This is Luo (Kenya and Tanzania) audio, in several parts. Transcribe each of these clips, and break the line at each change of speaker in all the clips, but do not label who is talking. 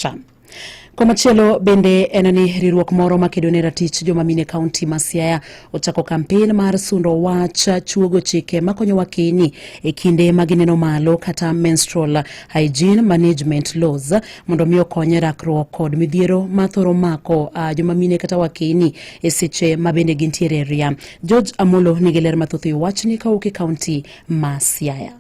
Cha. Komachielo bende en ni riwruok moro makedo ne ratich joma mine kaunti ma Siaya ochako kampen mar sundo wach chuogo chike makonyo wakeni e kinde ma gineno malo kata menstrual hygiene management laws mondo mi okonye rakruok kod midhiero ma thoro mako uh, joma mine kata wakeni e seche ma bende gintiere ria. George Amolo nigi ler mathoth e wachni kawuok e kaunti ma Siaya.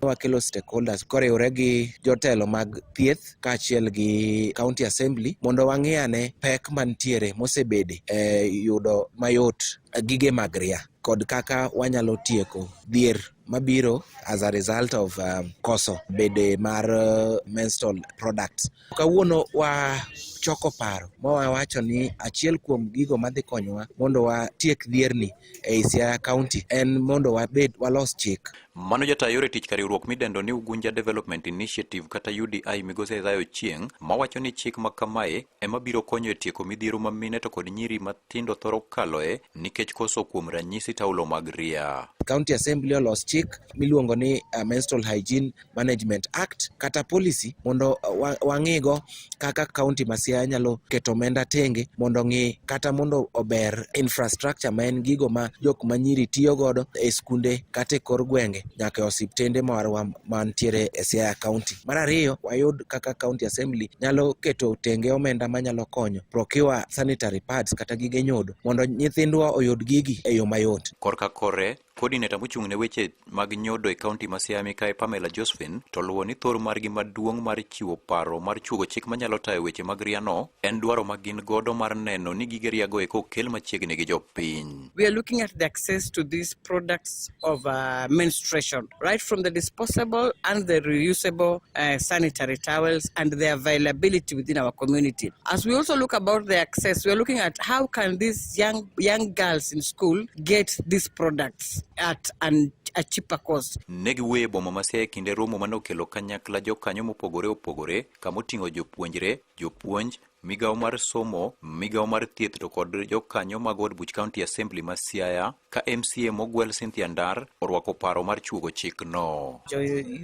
wakelo stakeholders koriwre gi jotelo mag thieth kaachiel gi county assembly mondo wang'i ane pek mantiere mosebede e yudo mayot gige mag ria kod kaka wanyalo tieko dhier mabiro as a result of um, koso bede mar uh, menstrual products Kawuono wa choko paro ma wawacho ni achiel kuom gigo madhi konyowa mondo watiek dhierni ei Siaya County en mondo wabed walos chik Mano jata yore tich ka riwruok midendo ni Ugunja Development Initiative kata UDI migosi Isaiah Ochieng mawacho ni chik ma kamae ema biro konyo e tieko midhiero ma mine to kod nyiri matindo thoro kaloe nikech koso kuom ranyisi taulo mag ria. County Assembly olos chik miluongo ni uh, Menstrual Hygiene Management Act kata policy mondo uh, wang'igo kaka kaunti ma Siaya nyalo keto omenda tenge mondo ng'i kata mondo ober infrastructure ma en gigo ma jok ma nyiri tiyo godo e skunde kata e kor gwenge nyaka e osiptende marwa mantiere e Siaya kaunti. Mar ariyo, wayud kaka kaunti assembly nyalo keto tenge omenda manyalo konyo procure sanitary pads kata gige nyodo mondo nyithindwa oyud gigi e yo mayot. Korka kore, Coordinator mochung' ne weche mag nyodo e kaunti ma Siaya Mikayi Pamela Josephine to luwo ni thor margi maduong' mar chiwo paro mar chuogo chik manyalo tayo weche mag riano en dwaro ma gin godo mar neno ni gige riago eko okel machiegni gi jopiny. We are looking at the access to these products of uh, menstruation right from the disposable and the reusable uh, sanitary towels and the availability within our community. As we also look about the access, we are looking at how can these young young girls in school get these products at an, a cheaper cost. Ne giwuoyo e boma Masia e kinde romo mane okelo kanyakla jokanyo mopogore opogore kama oting'o jopuonjre, jopuonj, migawo mar somo, migawo mar thieth to kod jokanyo mag od buch County Assembly ma Siaya ka MCA mogwel Cynthia Ndar orwako paro mar chuogo chikno. Jo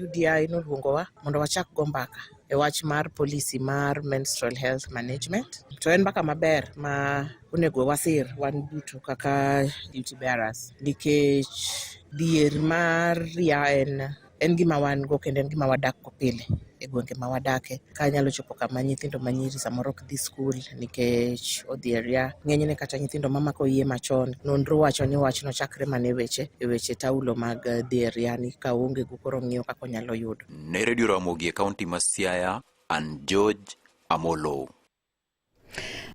UDI noluongowa mondo wachak go mbaka e wach mar policy mar menstrual health management to en mbaka maber ma Onego wasir wan duto kaka duty bearers nikech dhier mar ria en en gima wan go kendo en gima wadak go pile e gwenge ma wadake ka nyalo chopo kama nyithindo ma nyiri samoro ok dhi skul nikech odhi e ria ng'enyne kata nyithindo mamako iye machon nonro wacho ni wachno chakre mana e weche e weche taulo mag dhi e ria ni ka onge go koro ng'iyo kaka onyalo yudo ne redio ramogi e kaunti ma siaya an george amolo